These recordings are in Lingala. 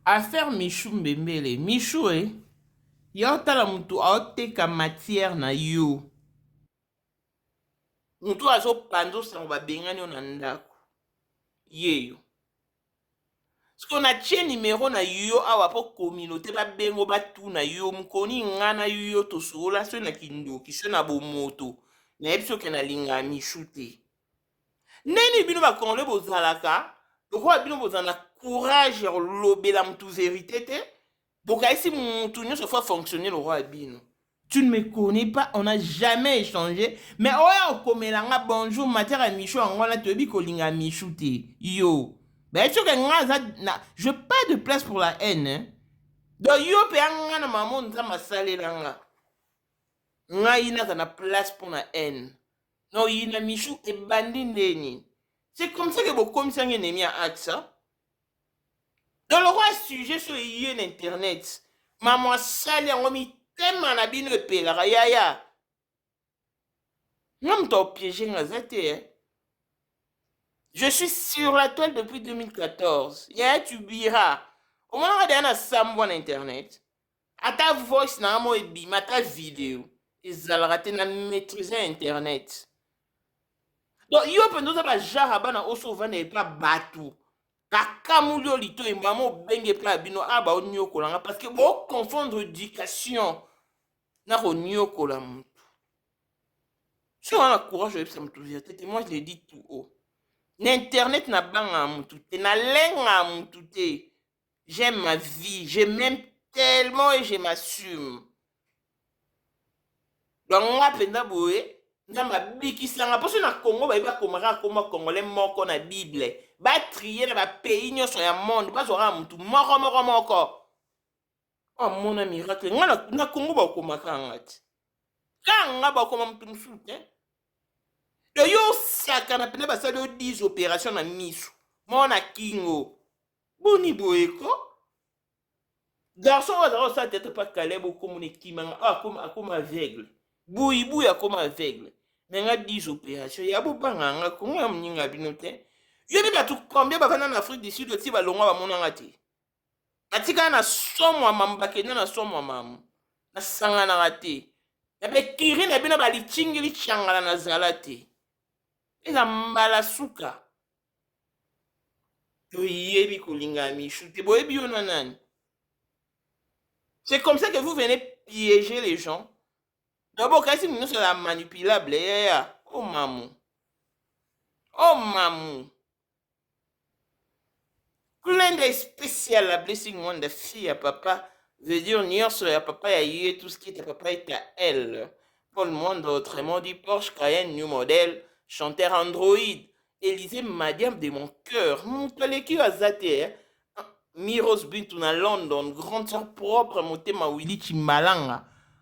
Affaire Michou mbembele Michou eh yo tala mutu azo teka matière na yo mutu oyo azo panzo sango ba bengani yo na ndaku yeyo sikoyo na tie numero na yo awa po communaute ba bengo ba tuna yo mukoni nga na yo to solola soki na kindoki soki na bomoto na yebi soki na linga Michou te Ndenge nini bino ba congolais bozalaka lokola bino bozala na courage ya kolobela motu verite te bokaisi motu nyonso fo afonctionne lokola bino tu ne me connais pas on a jamais échangé mais oya okomela nga bonjour matière ya michou yango wana toyebi kolinga michou te yo bayebi soki nga aza na je pas de place pour la haine hein? donc yo mpe ya nga na mamo nzambe asalela nga ngai naza na place mpo na haine Na oyina Michou ebandi nde nini? C'est comme ça que bokomisaki ennemi ya axe. hein? Donc lokola sujet so eye na internet, mamu asali yango mitema na bino epelaka yaya. Nga moto aopiege nga aza te. hein? Je suis sur la toile depuis 2014. Yaya tu bira. Omonaka deya na sambwa na internet. Ata voice na nga mo ebimi ata video ezalaka te na maîtriser internet. Donc yo mpenza oza ba genre ya bana oso ovanda epa bato bakamoli yo litoyi mama obengi epa ya bino a baoniokola nga parce que boconfondre éducation na koniokola moto. Si on a le courage de ça, tout dire, tete, moi je l'ai dit tout haut. Na internet na banga mutu te, na lenga mutu te. J'aime ma vie, je m'aime tellement et je m'assume. Donc nga mpenza boye nzambe abikisanga mposo na congo bayebi akomaka akoma congolais moko na bible batrie na bapays nyonso ya monde bazwaka motu moko moko moko amona oh, miracle nga na congo bakomaka nga ti kaka nga bakoma motu mosusu te to yo osakana mpena basali yo 10 opération na miso mona kingo boni boye ko garçon oyo azalaka kosala tete mpa kaleb okomona ekimanga oyo akoma akoma aveugle buibuy akoma aveugle na nga 10 opération ya bobanga nga kongo ya moninga bino te yo nde bato combien bavanda na afrique du sud oti balongwa bamonanga te natikala na somo ya mamu bakenda na somo ya mamu nasanganaka te na bekiri na bino balitingili cangala nazala te eza mbala suka toyebi kolinga ya michou te boyebi yo na nani c'est comme ça que vous venez piéger les gens d'abord kasi mino sala manipulable yaya o oh, mamu o oh, mamu Kulenda especial la blessing wanda fille ya papa veut dire nionso ya papa ya ye tout ce qui est à papa est à elle. Paul Mwanda autrement dit Porsche Cayenne new model chanteur Android Elise Madiam de mon cœur moto aleki yo aza te eh? Miros Bintu na London grande sœur propre motema Willy Chimbalanga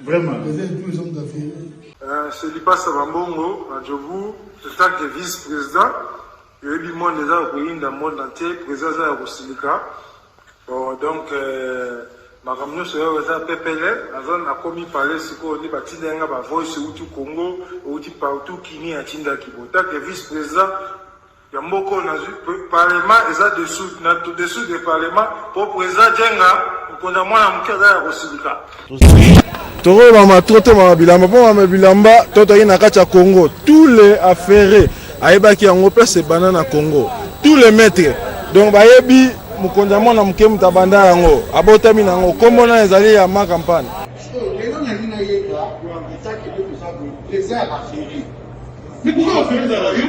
Vraiment. Euh, c'est Lipasa Bambongo, Adjobu, en tant que vice-président, oyebi monde eza ya koyinda monde entier président eza ya kosilika bon donc euh, makambo nyonso oyo eza pepele naza nakomi pale sikoyo nde batinda yanga bavoice euti congo euti partout kini atindaki botake vice président ya mboka oyo nazwi parlement eza dessous na dessous de parlement mpo president jenga mokonzi ya mwana moke aza ya kosilika tokoyo mama tro te mama bilamba mpo mama bilamba to toyei na kati ya congo tous les affaire ayebaki yango place ebanda na congo tous les maîtres donc bayebi mokonzi ya mwana moke moto abanda yango abotami na yango nkombo na ezali ya ma campagne lelo nalingi nayeba eza ya baferi mikuka oferi ezala yo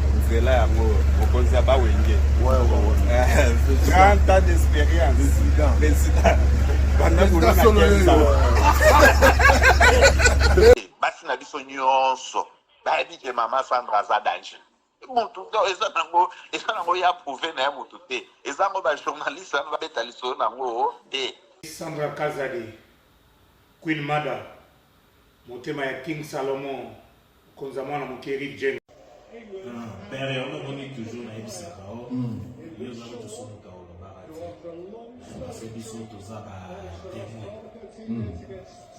nzela yango mokonzi ya bawenge grand tas d'expérience président banda kolona basi na biso nyonso bayebi ke mama sandra aza danger mutu to eza nango eza nango ya prouve na ya mutu te eza yango bajournaliste wana babeta lisolo nango te sandra kazadi queen mada Motema ya king Salomon mokonzi ya mwana moke Eric James. Père yango omoni toujours nayebisaka yo yo ozali tosumuka olobaka te parce biso toza ba témoin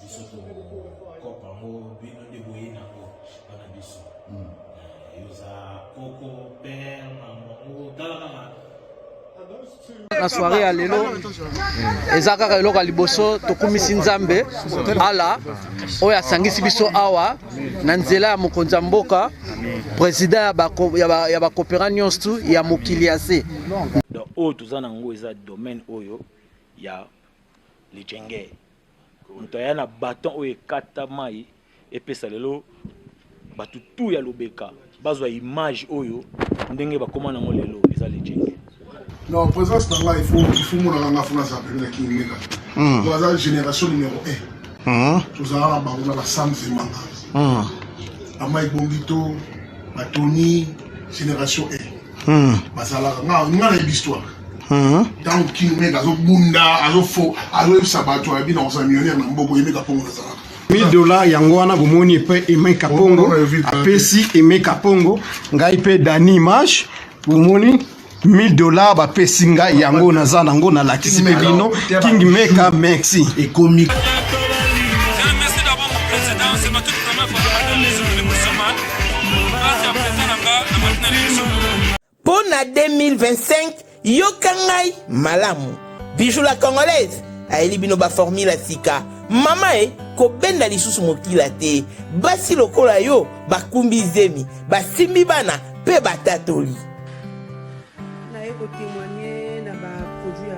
biso tokopa yango bino nde boye nango bana biso yo oza koko père mamango tala kaka na soirée ya lelo eza kaka eloko ya liboso tokumisi nzambe ala oyo asangisi biso awa na nzela ya mokonzi ya mboka président ya bakopera nyonso ya mokili ya se oyo toza na yango eza domaine oyo ya lijenge moto aya na baton oyo ekata mai epesa lelo bato tu ya lobeka bazwa image oyo ndenge bakoma nango lelo eza legende non présence na ngai ifo ifo monaka nga fo naza pene na kingimeka hmm. to aza génération numéro 1 hmm. tozalaka na bango na basam zemanga hmm. amai bongito batoni génération 1 bazalaka nga nga na histoire ntango kingimeka azobunda azoyebisa bato ya bino akoza millionnaire na mboka oyemeka mpongo nazalaka 1000 dollars yango wana bomoni epe Aimé Kapongo apesi Aimé Kapongo ngai mpe Dani Image bomoni 1000 dollars bapesi ngai yango naza nango nalakisi mpe bino King Meka merci ekomi Mpo na 2025, yoka ngai malamu. Bijou la Congolaise ayeli bino ba formule ya sika. Mama e, kobenda lisusu mokila te. Basi lokola yo bakumbi zemi, basimbi bana mpe batatoli. Naye ko temoigner na ba produits ya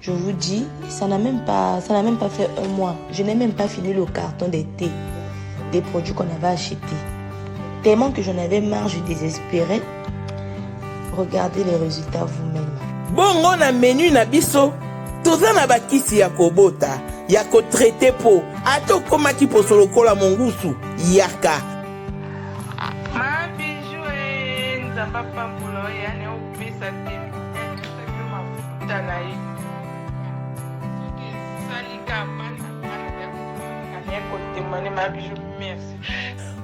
Je vous dis, ça n'a même pas, ça n'a même pas fait un mois. Je n'ai même pas fini le carton des thés, des produits qu'on avait achetés. Tellement que j'en avais marre, je désespérais. Regardez les résultats vous-même. Bongo na menu na biso, toza na bakisi ya kobota, ya ko traiter po, ata okomaki poso lokola mongusu, yaka. Ma bijou, eh, nzamba pambola, ya ne opesa te.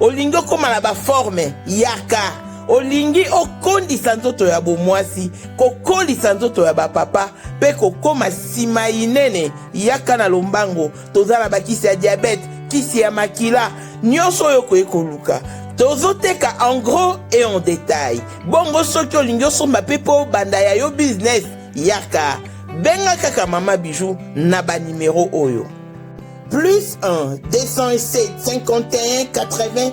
olingi okóma na baforme yaka olingi okondisa nzoto ya bomwasi kokolisa nzoto ya bapapa mpe kokóma nsima inene yaka na lombango toza na bakisi ya diabete kisi ya makila nyonso oyo okoki koluka tozoteka en gros et en détail bongo soki olingi osomba mpe mpo obanda ya yo business yaka benga kaka mama bijou na banimero oyo plus 1 207 51 80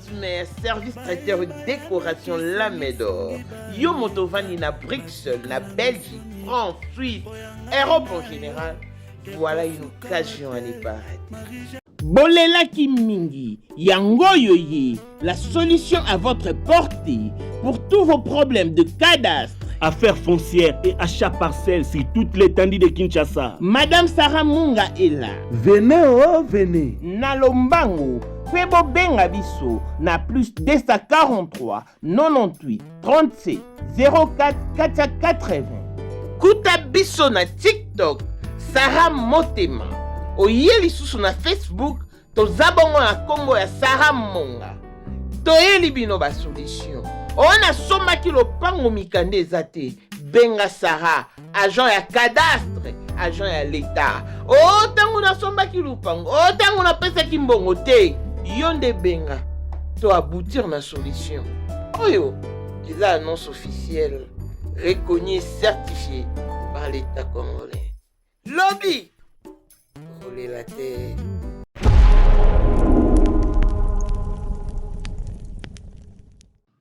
mais service traiteur décoration la médor yo moto ovandi na bruxelles na belgique france suisse europe en général voilà une occasion à ne pas rater bolelaki mingi yango oyo ye la solution à votre portée pour tous vos problèmes de cadastre affaires foncières et achats parcelles sur toute l'étendue de Kinshasa. Madame Sarah Munga est là. Venez, oh, venez. Nalombango, mpe bobenga biso na plus 243 98 37 04 480 kuta biso na tiktok sara motema oye lisusu na facebook toza bongo na nkombo ya sara monga toyeli bino basolution oyo nasombaki lopango mikanda eza te benga sara agent ya cadastre agent ya leta o oh, ntango nasombaki lupango o oh, ntango napesaki mbongo te yo nde benga to aboutir na solution oyo eza annonce officielle reconnue certifiée par l'état congolais lobi kolela te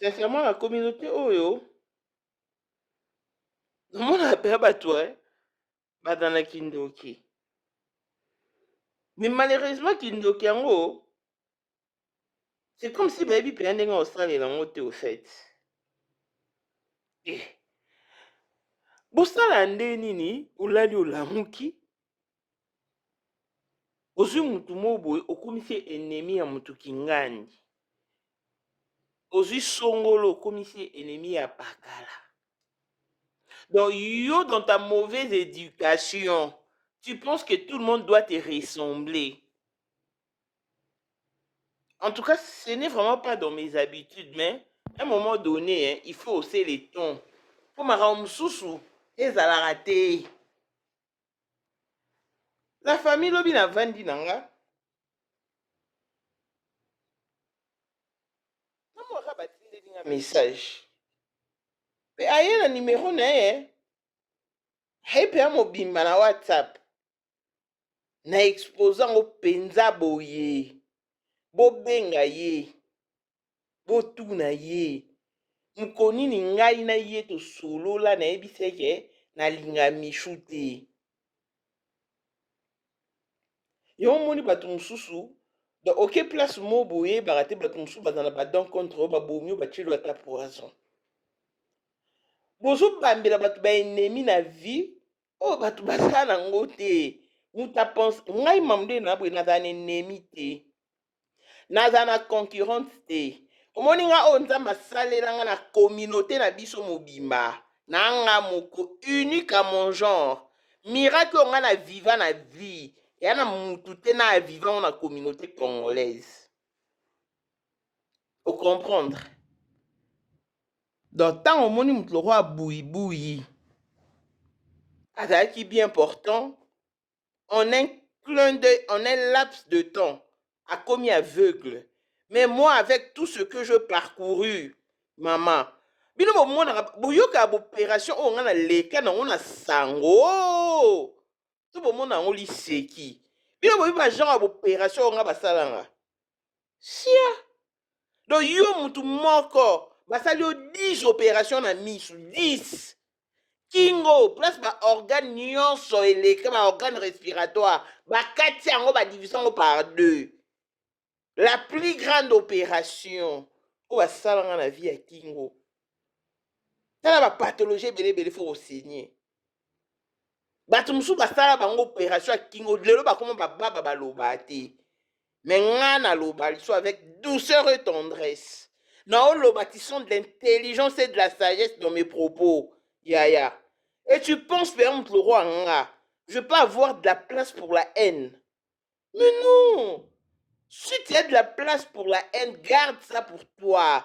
sincèrement na communauté oyo namonaka mpe ya bato e baza na kindoki mais malheureusement kindoki yango c'est comme si bayebi mpenza ndenge osalela yango te ofete eh. bosala nde nini olali olamuki ozwi mutu moko boye okomisi ye ennemi ya mutu kingani ozwi songolo okomisi ye ennemi ya pakala donc yo dans ta mauvaise éducation tu penses que tout le monde doit te ressembler en tout cas ce n'est vraiment pas dans mes habitudes mais à un moment donné hein, il faut hausser les tons mpo makambo mosusu ezalaka te la famille lobi na vandi na nga namwaka batindeli nga message pe aye na numero na ye aye mpe amobimba na whatsapp na expose yango mpenza boye bobenga ye botuna ye moko nini ngai na ye tosolola nayebisi eke nalinga mishu te yo omoni bato mosusu donc oke place mo boyebaka te bato mosusu baza na badon contre oyo babomi oyo batyeli ata poison bozobambela bato baennemi na vie oyo bato basala yango te moto apense ngai mamdena boye nazala na ennemi te naza na concurrente te omoni nga oyo nzambe asalela nga na communauté na biso mobimba na nga moko unique à mon genre miracle oyo nga na viva na vie ya na mutu te na aviva ngo na communauté congolaise ocomprendre donc ntango omoni moto lokola buibuyi azalaki bien important en un clin d'œil, en un laps de temps, a commis aveugle. Mais moi, avec tout ce que je parcouru, maman, bino bomonaka boyoka boperation oyo ngai naleka nango na sango oh! to bomona yango liseki bino boyebi bagenre ya boperation oyo ngai basalanga sia donc yo mutu moko basali yo 10 opération na misu 10 kingo place baorgane nyonso eleka baorgane respiratoire bakati yango badivise yango par deux la plus grande opération oyo basala nga na vie ya kingo tala bapathologie ebele ebele fo kosigne bato mosusu basala bango opération ya kingo lelo bakoma bababa baloba te me nga naloba liso avec douceur et tendresse naoloba ti sont de l'intelligence et de la sagesse dans mes propos yaya et tu penses mpe moto lokola nga je peux avoir de la place pour la haine mais non si tu as de la place pour la haine garde ça pour toi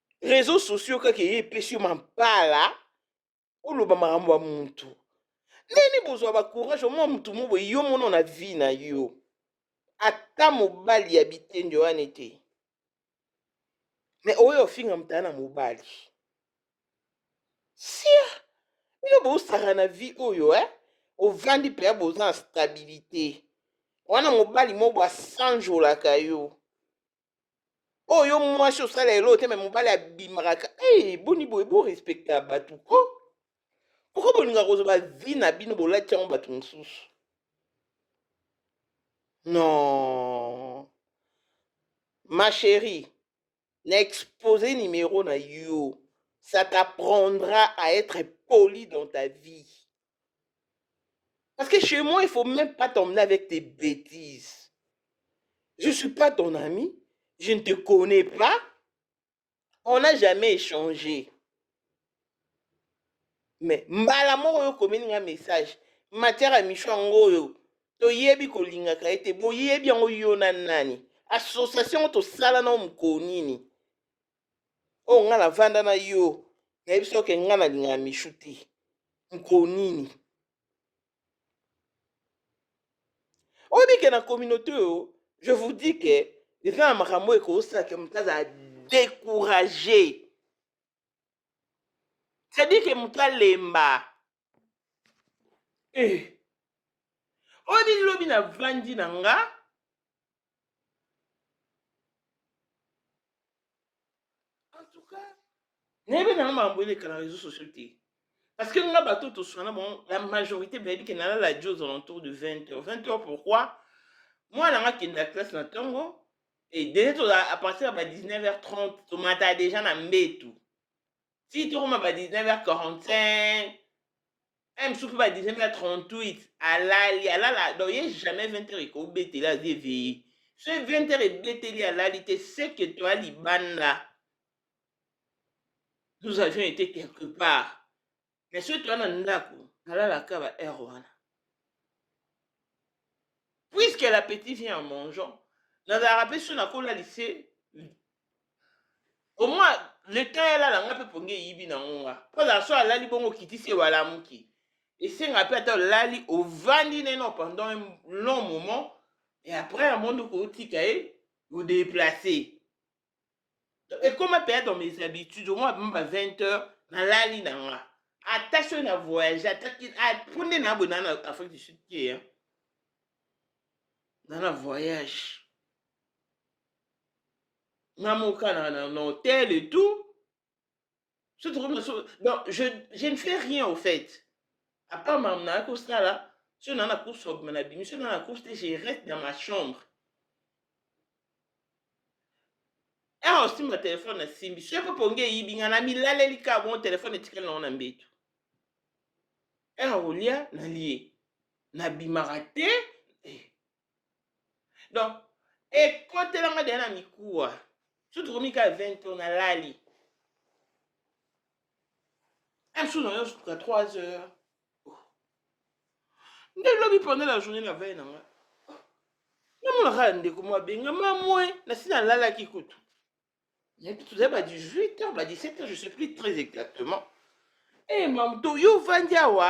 reseau sociaux kaka eye epesi yo mampala oloba makambo ya mutu ndeni bozwa bacourage omwa mutu mo boye yo mono na vie na yo ata mobali ya bitende wana te me oyo ofinga motala na mobali sia bino bosaka na vie oyo eh? ovandi mpenza boza na stabilite wana mobali moko asanjolaka yo oyo oh, mwasi osala elo te me mobali abimaka hey, eh, boni boye borespecta bato o oh. pourkoi bolinga kozwa vi na bino bolati yango bato mosusu non ma chérie na expose numero na yo ça t'apprendra à être poli dans ta vie Parce que chez moi, il faut même pas t'emmener avec tes bêtises. Je ne suis pas ton ami, je ne te connais pas, on n'a jamais échangé. Mais mbala moko yo komeli nga message matière ya micho yango oyo toyebi kolingaka ye te boyebi yango yo na nani association tosala nao mokolo nini oyo nga na vanda na yo nayebi soki oke nga nalingaka michou te mokolo nini oyebi ke na communauté oyo je vous dis ke eza na makambo oyo ekosala ke moto azala décourage c'est-à-dire ke moto alemba eh. oyo bini lobi na vandi na nga en tout cas nayebi nanga makambo eleka na réseau sociaux te parce que nga bato toswana bango la majorité bayebi ke nalala di aux alentours de 20 heures 20 heures pourquoi mwana nga akenda classe na ntongo e dene toza à partir ya ba 19 heures 30 tomata déjà na mbetu ti tokoma ba 19h45 eh, mosusu mpe ba 19h38 alali alala donc ye jamais 20h ekobetela azi eveille so 20h ebeteli alali te seke toa libanda nous avions été quelque part mais soki toa na ndako alalaka ba heure wana puisque la petite vient en mangeant nazalaka mpe so nakola lise omwa leta ya lala nga mpe pongi eyibi na ngonga mpo azala so alali bongo okitisi ye walamuki esenga mpe ata olali ovandi na ye no pendant un long moment et après ya mondo kotika ye odeplace ekoma mpe dans mes habitudes omwa bamba 20 heures nalali na nga ata soki na voyage ata mpo nde na boye na na afrique du sud te na na voyage na mokana na na hotel et tout so tokomi na so donc je, je ne fais rien au fait à part makambo nayaki kosala so na na course obima na bimi so na na course te je reste dans ma chambre awa osimba telefone nasimbi so epe pongi eyibi ngai namilaleli kaka bongo telefone etikali nango na mbetu awa olia nalie nabimaka te eh, donc ekotela nga deya na mikuwa so tokomi kaka 20 tour nalali msu na yo suka 3 heures nde lobi pendant la journée na vei na nga namona kaka ndeko mwa benga mamwe nasi nalalaki kutu nayebi toza ba 18 heures ba 17 heures je sais plus très exactement e eh, hey, mam to yo ovandi awa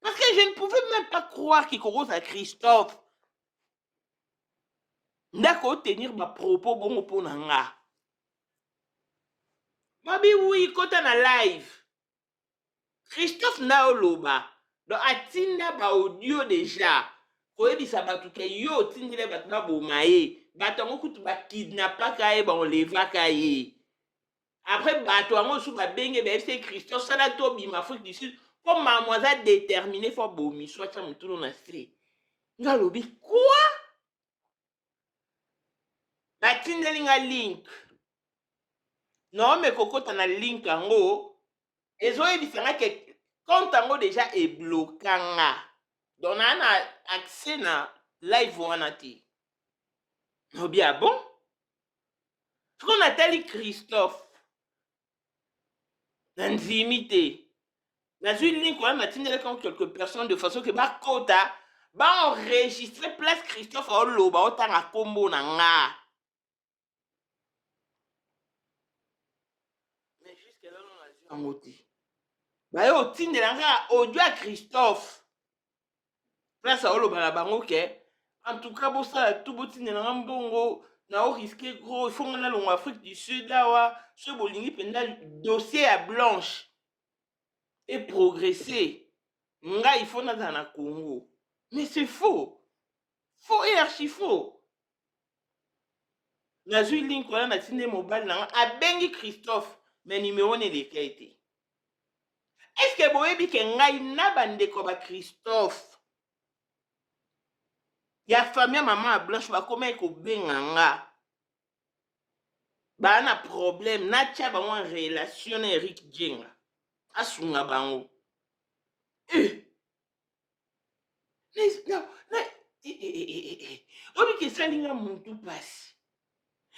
Parce que je ne pouvais même pas croire qu'il commence à Christophe. Ndako tenir ma propos bongo mpo na nga. Mabi oui kota na live. Christophe nao loba. Donc atinda ba audio déjà. koyebisa bato ke yo otindile bato baboma ye bato yango kutu bakidnapaka ye baolevaka ye après bato yango mosusu babenge bayebisi ye christian sala tobima afrique du sud mpo mamo aza détermine fo abomiso atya motunu na se nga alobi kua batindeli nga link naome kokota na link yango ezoyebisa nga ke compte yango deja ebloka nga donc naa na accès na live wana te naobi abon ah sikoyo natali christophe nandimi te nazwi link wana natindelaki yango quelques personnes de façon ke bakota baenregistre place christophe aoloba otanga nkombo na nga mais jusque lelo nazwi yango te baye otindela nga audio ya christophe place aoloba na bango ke en tout cas bosala tu botindela nga mbongo na o risque gros ifo nga nalongo afrique du sud awa soki bolingi mpenza dossier ya blanche e progresse ngai ifo nazala na congo mais c'est faux faux et archi faux nazwi link wana natindi mobali na nga abengi christophe mais numero na elekei te Est-ce que boyebi ke ngai na bandeko ba Christophe ya famille maman ya Blanche bakomaki kobenga nga baa na problème natya bango en relation na Eric Djenga asunga bango eh. na, na, na, eh, eh, eh, eh, eh. oyebi ke esali nga mutu mpasi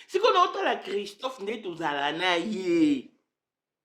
sikoyo naotala Christophe nde tozala na ye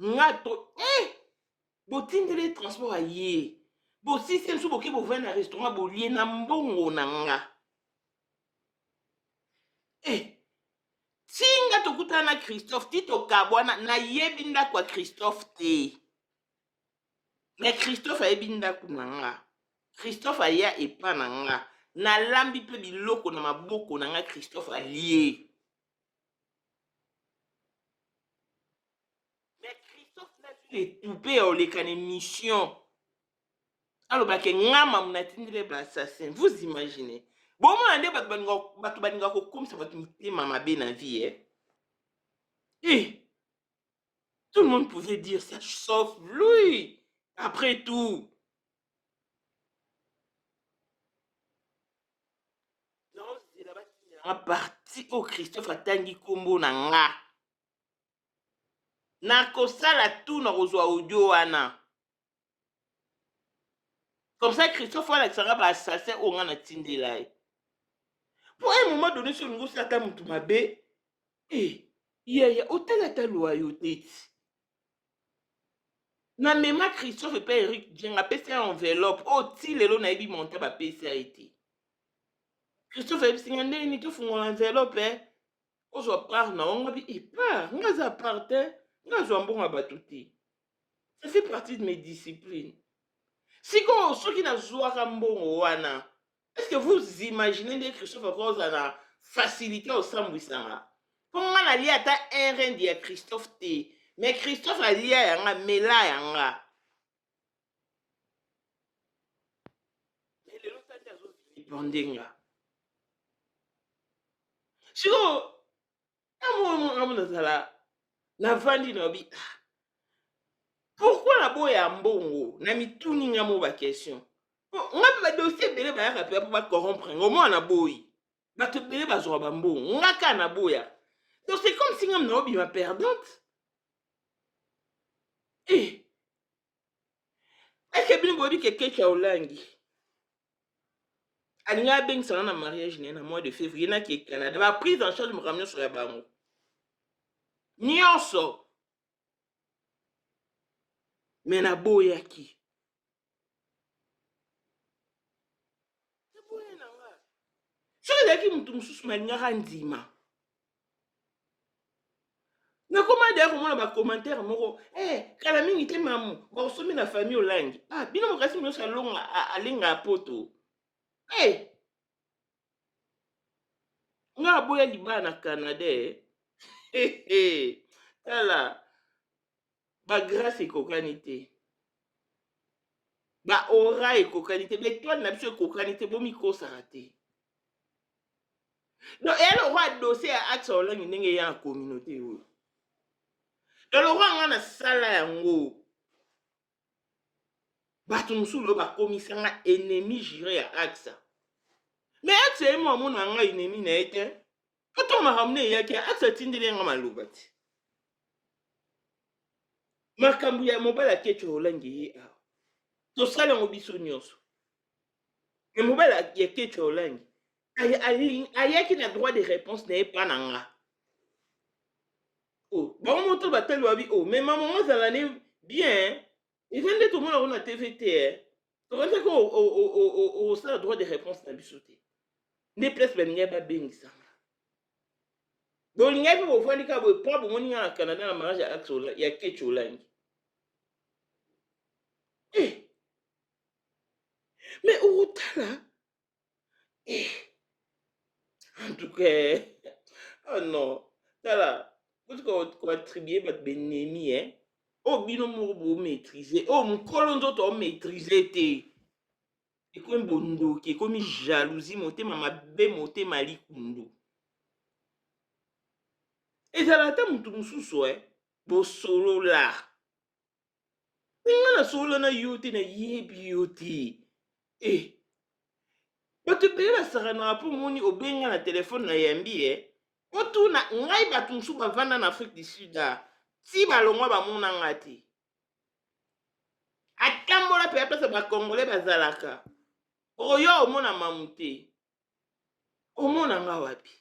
nga to eh botindeli ye transport aye bosisi ye biso boke bovai na restaurant bolie na mbongo na nga eh ti nga tokutana na christophe ti tokabwana nayebi ndako ya christophe te me christophe ayebi ndako na nga christophe aya epa na nga nalambi mpe biloko na maboko na nga christophe alie mais christophe nazwi na etube ya oleka na émission alobake nga mamu natindile ba assassin vous imaginez bomona nde bato balinga bato balinga kokomisa bato mitema mabe na vie eh? eh. tout le monde pouvait dire ça sauf lui après tout naozela batinela nga parti oyo christophe atangi nkombo na nga nakosala tu na kozwa audio wana comme ça christophe wana alakisaka ba assassin oyo nga natindela ye mpo un moment donné so olingi osala ata motu mabe e eh, yaya otala ata lwa yo teti na mema christophe mpe eric dieng apesi ya enveloppe oyo oh, ti lelo nayebi monta bapesi ya ete christophe ayebisi nga ndenge nini tofungola enveloppe eh? ozwa part na yo ngabi epart eh, nga aza part te eh? nga azwa mbongo ya bato te ça fait partie de mes disciplines sikoyo soki nazwaka mbongo wana est ce que vous imaginez nde christophe akoki ozala na facilité ya osambwisanga mpo nga nalia ata un rende ya christophe te mais christophe alia yanga mela yanga lelo tandi azovilipandenga sikoyo na mwa mwangamu nazala navandi na obi ah, pourkui naboya mbongo na mituni nga mo bakestion nga mpe badosie ebele bayaka mpe mpo bacorrompre ngo mwana na boyi bato ebele bazwaka bambongo nga ka naboya donc c'est comme si nga mna obima perdante e eh, eke bino boyebi ke kecha olangi alingi abengisana na mariage na ye na mois de février na ke canada ba prise en charge makambo nyonso ya bango nyonso me naboyaki soki ezalaki moto mosusu nalingaka ndima nakoma deya komona bacommentaire moko eh, kala mingi te mamu bakosomi na famille olangi ah, bino mokasi nyonso alonga alinga poto eh. nga aboya libala na canada eh. tala ba grace ekokani te ba ora ekokani te betoile na biso ekokani te bomikosaka te donc eya lokwa dossier ya axe olangi ndenge eya na communauté oyo donc lokwa nga nasala yango bato mosusu oyo bakomisa nga ennemi jure ya axa mais axe ye mo amona nga ennemi na ye te Ata makambo na eyaki ata atindeli yanga maloba te. Makambo ya mobali akecho olangi ye awa. Tosala yango biso nyonso. Ya mobali ya kecho olangi ayaki na droit de réponse na ye pa na nga. Oh, bango moto batali wabi o oh, mema mama ozala ne bien eza nde tomona yango na tv te eh. tokendaki osala droit de réponse na biso te nde place balingaki babengisanga bolingaki bofandi kaka boye mpo bomoni nga na canada na mariage ya kechi olangi eh. mais okotala en tout cas oh non tala kuti koattribue bato benemi e oyo bino moko bomaîtrise oyo mokolo nzoto omaîtrise te ekomi bondoki ekomi jalousie motema mabe motema likundu ezala ata moto mosusu e bosolola nga nasolola na yo te nayebi yo te e bato ebele basakanaka mpo omoni obenga na telefone na yambi e otuna ngai bato mosusu bavanda na afrique du sud a ti balongwa bamona nga te atambola mpe apesa bakongole bazalaka oyo omona mamu te omona nga wapi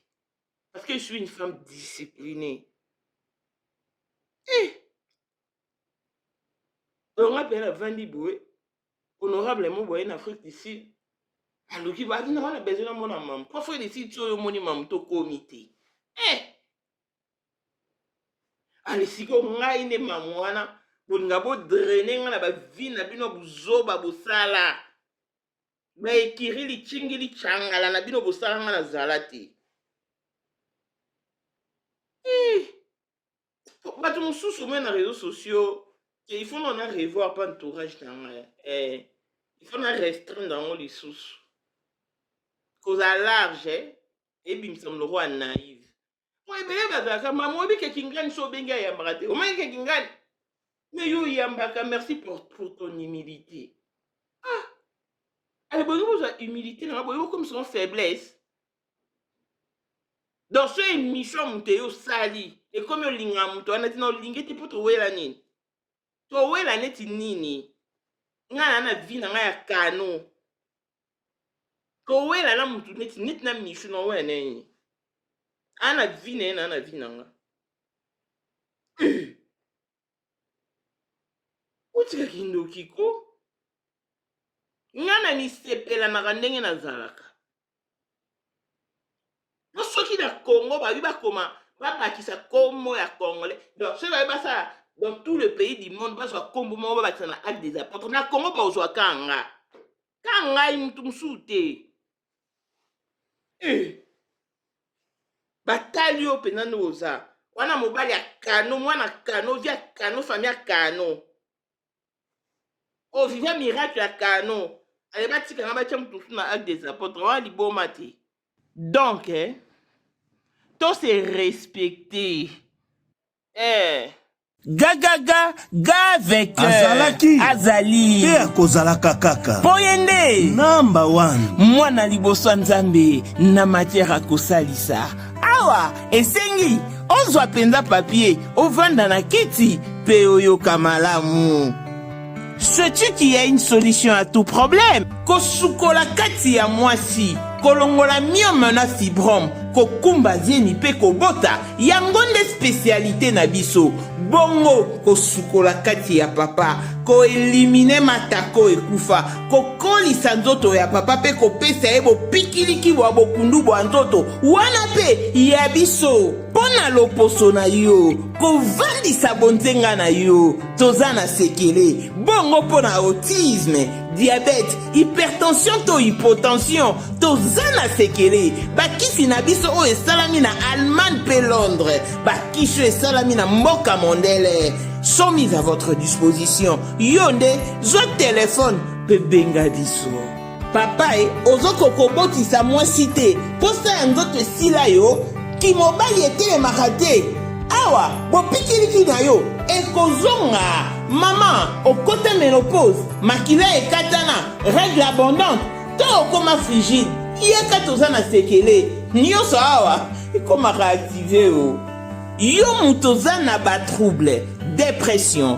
parce que je suis une femme disciplinée eh. donc nga mpe navandi boye honorable mo boye na afrique du sud aluki baati na wana besoin namona mamu po afrique du sud ti oyo omoni mamu tokomi te eh! ale siko ngai nde mamu wana bolinga bodraine ngai na bavi na bino buzoba bosala baekiri licingi licangala na bino bosala ngai nazala te eh! bato mosusu omoi na réseau sociaux ke il faut nana revoir mpe entourage na ngai eh, il faut na restreindre yango lisusu kozala large eh, ebimisa moloko ya naive po ebele bazalaka mama oyebi ke kingani so obengi ayambaka te omaki ke kingani me yo oyambaka merci pour, pour ton humilité ah ale bolingi bozwa humilité na nga boyebi okomisango faiblesse donc so emission ya moto eye osali ekomi olingaka moto wana tina olingi te mpo towela nini towela neti nini ngai na na vi na ngai ya kano kowela na motu neti neti na misu na owela na nini ana vi na ye na na vi na ngai otika kindoki ko nga na misepelanaka ndenge nazalaka po soki na congo babi bakoma babakisa nkombo ya congolais donc soki babi basala dans tout le pays du monde bazwa nkombo moko babakisa na acte des apôtres na congo bakozwa ka nga ka ngai moto mosusu te Eh. batali yo mpenza nde oza wana mobali ya kano mwana kano vi ya kano fami ya kano oviva oh, miracle ya kano aye batikanga batya moto mosusu na acte des apôtres wana liboma te donc eh, to se respecte eh, gagaga gavek azalaki azali mpe akozalaka kaka mpo ye nde namba 1 mwana liboso ya nzambe na matière akosalisa awa esengi ozwa mpenza papie ovanda na kiti mpe oyoka malamu Sais-tu qu'il y a une solution à tout problème? Kosukola kati ya mwasi, kolongola myome na fibrome, kokumba zemi mpe kobota, yango nde specialite na biso. Bongo kosukola kati ya papa, koelimine matako ekufa, kokolisa nzoto ya papa mpe kopesa ye bopikiliki bwa bokundu bwa nzoto, wana mpe ya biso. Mpo na loposo na yo, kovandisa bonzenga na yo. toza na sekele bongo mpo na autisme diabete hypertension to hypotension toza na sekele bakisi na biso oyo esalami na allemagne mpe londres bakisi oyo esalami na mboka mondele sont mis à votre disposition yo nde zwa telefone mpe benga biso Papa e, ozoko kobotisa mwasi te, posa ya nzoto esila yo, kimobali etelemaka te. Awa bopikiliki na yo ekozonga. Mama, okota menopause, makila ekatana, règle abondante, to okoma frigide. Yaka toza na sekele, nyonso awa ekomaka active o. Yo moto oza na ba trouble, depression,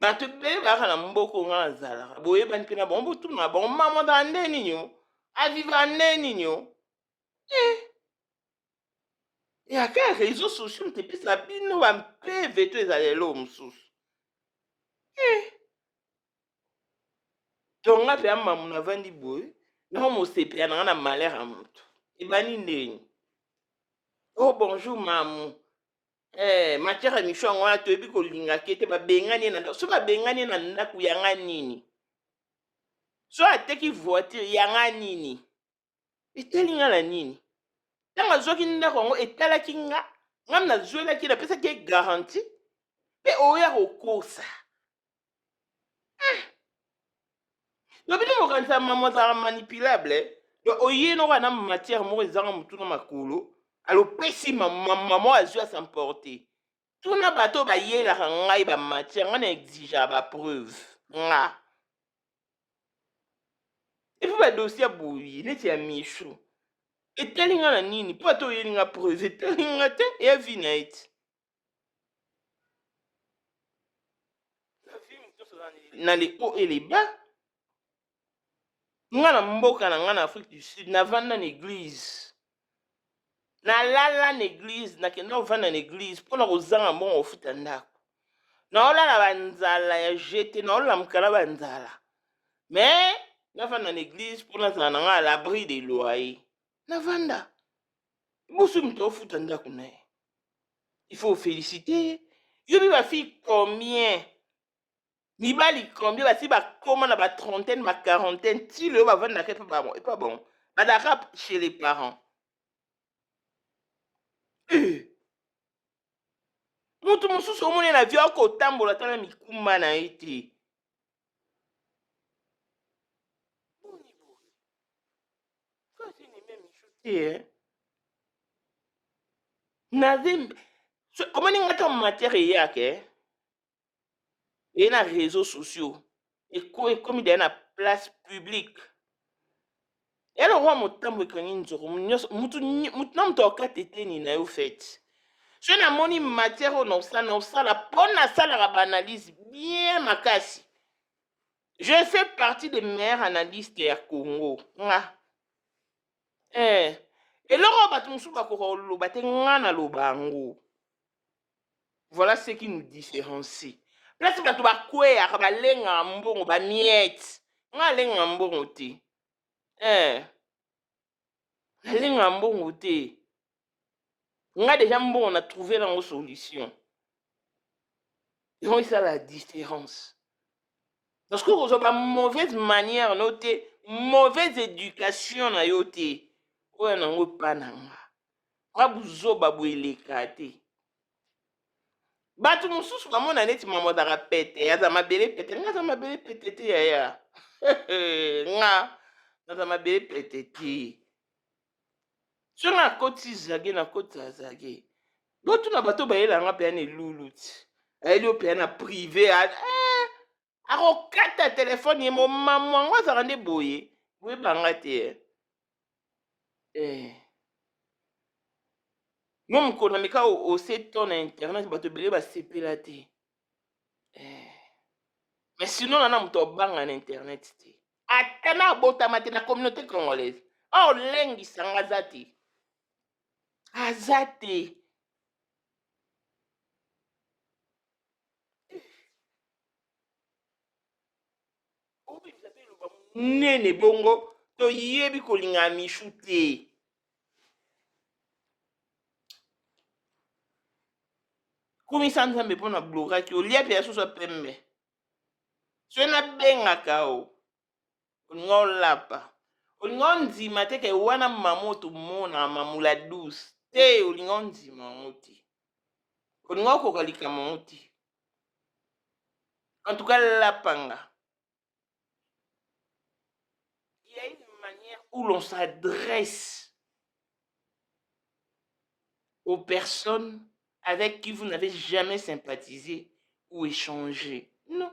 bato ebele bayaka na mboka oyo ngai nazalaka boyebani mpe na bango botuna na bango mama ozala nde nini o avivaka nde nini o eh. ya kaka réseau sociaux moto epesa bino bampeve to ezala eloo mosusu eh. donc ngai mpe amamu navandi boye nao mosepela na ngai na malere ya moto ebandi ndeni o oh, bonjour mamu Eh, matière ya mission yango wana toyebi kolinga ke te babengani ye na ndako so babengani ye na ndako yanga nini so ateki voiture yanga nini etali nga na nini ntango azwaki ndako yango etalaki nga ngam nazwelaki napesaki ye garanti mpe oya kokosa eh. yo bino mokanisa mama ozala manipulable eh. donc oye noko ana matière moko ezanga motu na makolo alopesi mama azwi asemporte tuna bato bayelaka ngai bamatière ngai na exigea bapreuve nga epuis badosie ya boye neti ya michu etali nga na nini mpo ata oyeli nga preuve etali nga te eya vi na ye te na le haut et le bas nga na mboka na nga na afrique du sud navanda na église nalala na église nakenda kovanda na église mpo na kozanga mbongo kofuta ndako naolala banzala ya jete naolala mokala banzala mais navanda na église mpo nazala na nga à l'abri de loyer navanda Boso moto aofuta ndako na ye. Il faut féliciter ye. Yo mpe bafille combien mibali combien basi bakoma na batrentaine baquarantaine ti leyo bavandaka epa bango epa bango badaka chez les parents euh. moto mosusu omoni na vio akotambola tala mikuma na ye te Eh? nazembe omoni nga ntango matière eyaka eh? eye na réseau sociaux ekomi deya na place publique ya lokola motambo ekangi nzoko nyonso mutu nyi- mutu na moto akata eteni na yo fete so namoni matière oyo naosala naosala mpo nasalaka baanalyse bien makasi je fais partie des meilleurs analystes ya congo nga eh. eloko oyo bato mosusu bakoka koloba te nga naloba yango Voilà ce qui nous différencie. Place bato bakweyaka balengaka mbongo ba miette. Nga alengaka mbongo te. Eh, alengaka mbongo te. Nga deja mbongo na trouver nango solution. Yango eza la différence. Parce que kozwa ba mauvaise manière no te, mauvaise éducation na yo te. Oyo nango epa na nga. nga buzoba boye eleka te bato mosusu bamona neti mama azalaka pete aza mabele pete nga aza mabele pete te yaya nga naza mabele pete te so nga nakoti zage nakoti azage botuna bato bayela nga mpe ya na elulu ti ayeli yo mpe ya na prive eh, akokata telefone ye momamu yango azalaka nde boye boyebanga te eh. eh. yo mokolo na meka ose to na internet bato ebele basepela te eh. mais sinon nana moto abanga na internet te ata na abotama te na communauté congolaise aolengisanga aza te aza te nene bongo toyebi kolinga ya mishu te kumisa nzambe mpo na blokaki olia mpe ya soso ya pembe soki nabengaka o olingi olapa olingi ondima te ke wana mama otomona mamula douce te olingi ondima yango te olingi okoka likambo yango te en tout cas lapanga il y a une manière où l'on s'adresse aux personnes avec qui vous n'avez jamais sympathisé ou échangé non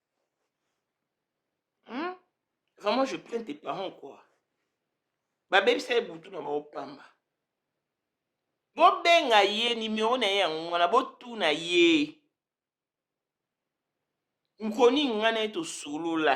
hmm? vraiment je plains tes parents quoi babebisa ye butu na bango pamba bobenga ye nimero na ye yango wana botuna ye nkoni ngai na ye tosolola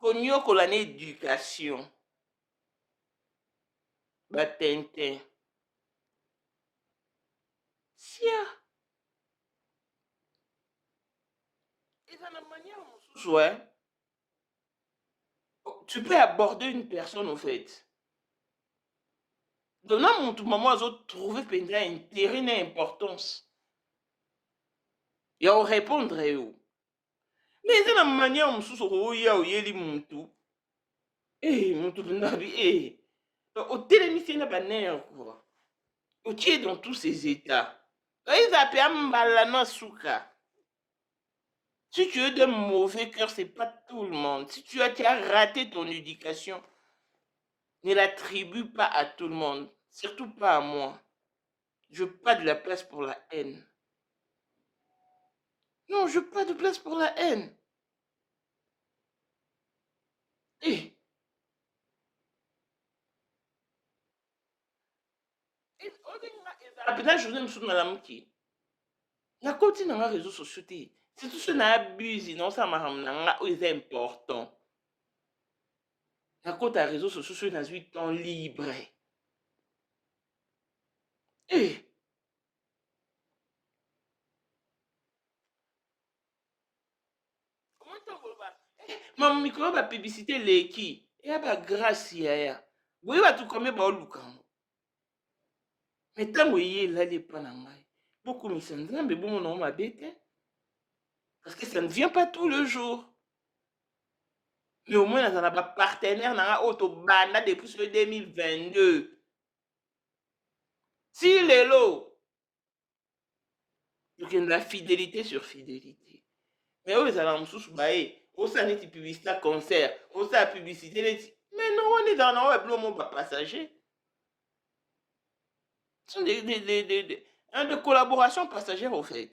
Koniokola na education ba tintin siaa eza na manière mosusu eh? tu peux aborder une personne au fait donc na mutu mama azotrouve mpenza intérêt na importance ya orépondre yo me eza na manière mosusu okoya oyeli mutu e mutu mpenzabi e otelemisi ye na banere kua otie dans tous ces états eza mpe ambala na suka Si tu es d'un mauvais cœur, c'est pas tout le monde. Si tu as, tu as raté ton éducation, ne l'attribue pas à tout le monde, surtout pas à moi. Je veux pas de la place pour la haine. Non, je veux pas de place pour la haine. Eh. apena journée mosusu nalamuki nakoti na nga réseau sociaux te surtout soki na abuse na osala makambo na nga oyo eza important nakota réseau sociaux soki nazwi temps libre eh. mama mikolo ba publicité eleki eya ba grâce yaya boye bato kome baoluka yango me ntango eye elali epa na ngai bokumisa nzambe bomona yango mabe te parce que ça ne vient pas tout le jour mais au moins nazala ba partenaire na nga oyo tobanda depuis sur 2022 ti lelo tokende la fidélité sur fidélité mais oyo ezala mosusu baye osala neti publicité ya concert osala publicité neti mais no wana ezala na oyo bilo mo bapassager sont des, des, des, des, des, hein, des collaborations passagères au fait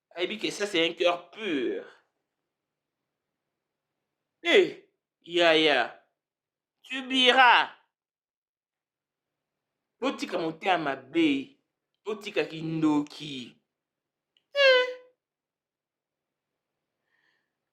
ayebi que ça c'est un cœur pur eh yaya tu bira botika motema mabe botika kindoki eh.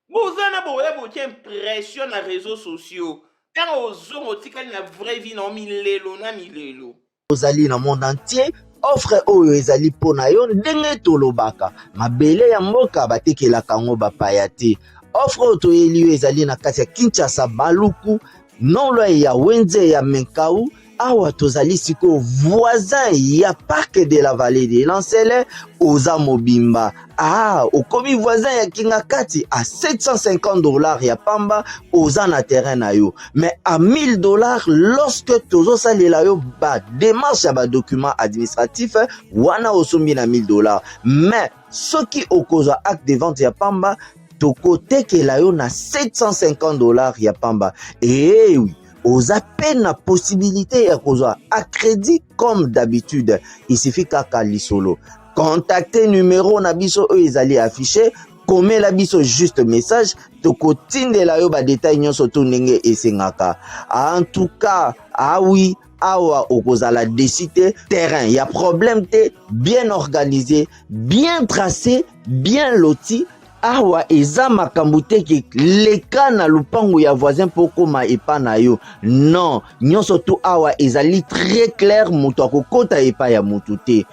boza na boya botia impression na réseaux sociaux ntango ozonga otikali na vraie vie na milelo na milelo ozali na monde entier offre oyo ezali mpo na yo ndenge tolobaka mabele ya mboka batekelaka yango bapaya te offre oyo toyeli yo ezali na kati ya kinshasa baluku nolwaye ya wenze ya menkau awa tozali sikoyo voisin ya parc de la vallée de lancele oza mobimba Ah, okomi voisin ya kingakati a 750 dollars ya pamba oza na terrain na yo mais a 1000 dollars lorsque tozosalela yo ba démarche ya badocument administratif wana osombi na 1000 dollars mais soki okozwa acte de vente ya pamba tokotekela yo na 750 dollars ya pamba eewi oza mpe na possibilité ya kozwa a crédit comme d'habitude il suffit kaka lisolo contacte numero na biso oyo ezali affiche komela biso juste message tokotindela yo badetail nyonso to ndenge esengaka en tout cas awi ah awa okozala desi te terrain ya problème te bien organisé bien tracé bien loti awa eza makambo te ke leka na lupangu ya voisin mpo okoma epa na yo non nyonso tu awa ezali très clair moto akokota epa ya moto te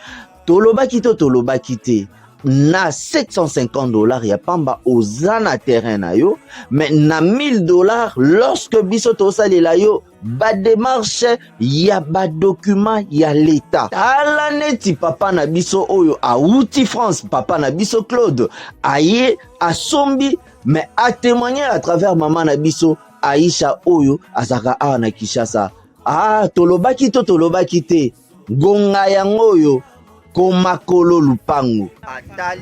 tolobaki to tolobaki te na 750 dollars ya pamba oza na terrain na yo mais na 1000 dollars lorsque biso tosalela yo bademarche ya badokima ya leta tala neti papa na biso oyo awuti france papa na biso claude aye asombi me atemoigne à travers mama na biso aisha oyo azalaka awa na kinshasa ah tolobaki to tolobaki te ngonga yango oyo komakolo lupango atali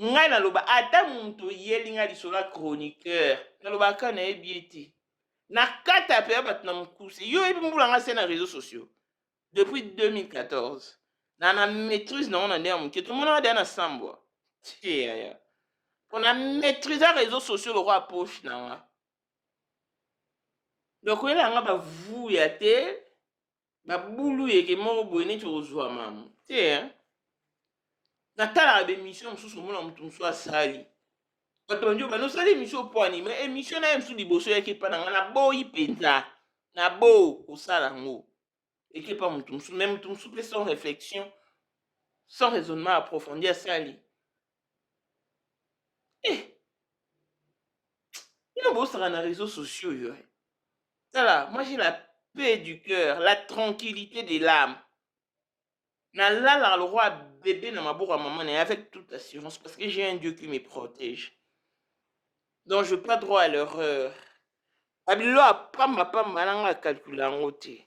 ngai naloba ata moto oyeli ngai lisolo ya chroniqueur nalobaka kaka nayebi ye te na kata mpe ya bato na mokuse yo oyebi mbula ngai se na réseau sociaux depuis 2014 na na maîtrise nango na nde ya moke tomonaka deya na sambwa tiyaya mpo na maîtrise ya réseau sociaux lokola poche na nga donc oyela nga bavuya te babulu yeke moko boye neti okozwa mamu te hein? natalaka bemission mosusu omona moto mosusu asali bato bandi obanda osali emission opwani ma emission na ye mosusu liboso yaki epa na ngai naboyi mpenza nabo kosala yango eki epa moto mosusu mai moto mosusu mpe sans réflexion sans raisonnement approfondi asali eh bino bosaka na réseaux sociaux yo eh. tala moi j'ai la paix du cœur la tranquillité de l'âme nalalaka lokola bebe na maboko ya mama na ye avec toute assurance parce que j'ai un dieu qui me protège donc je pas droit à l'erreur babilo apamba pamba nanga akalkula yango te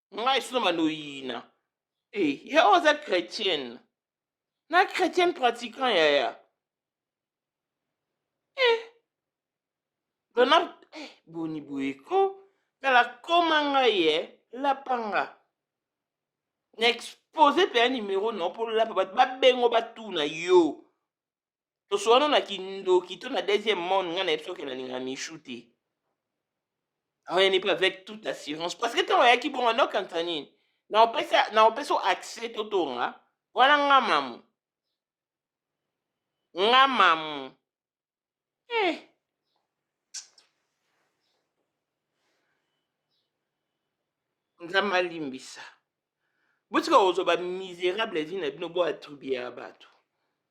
ngai sino banoyina e eh, ya oyo aza chrétienne na chrétienne pratiquant yaya e eh, dona e eh, boni boye ko tala koma ngai ye lapanga na expose mpe ya nimero na yo mpo olapa bato babengo batuna yo tosukano na kindoki to na deuxième monde ngai nayebi soki nalinga michou te aoyanipe avec toute assurance parce que ntango ayaki bongo naokanisa nini naopesa accès totonga wana nga mamu nga mamu eh. nzambe alimbisa botika kozwa bamiserable vi na bino boatribue ya bato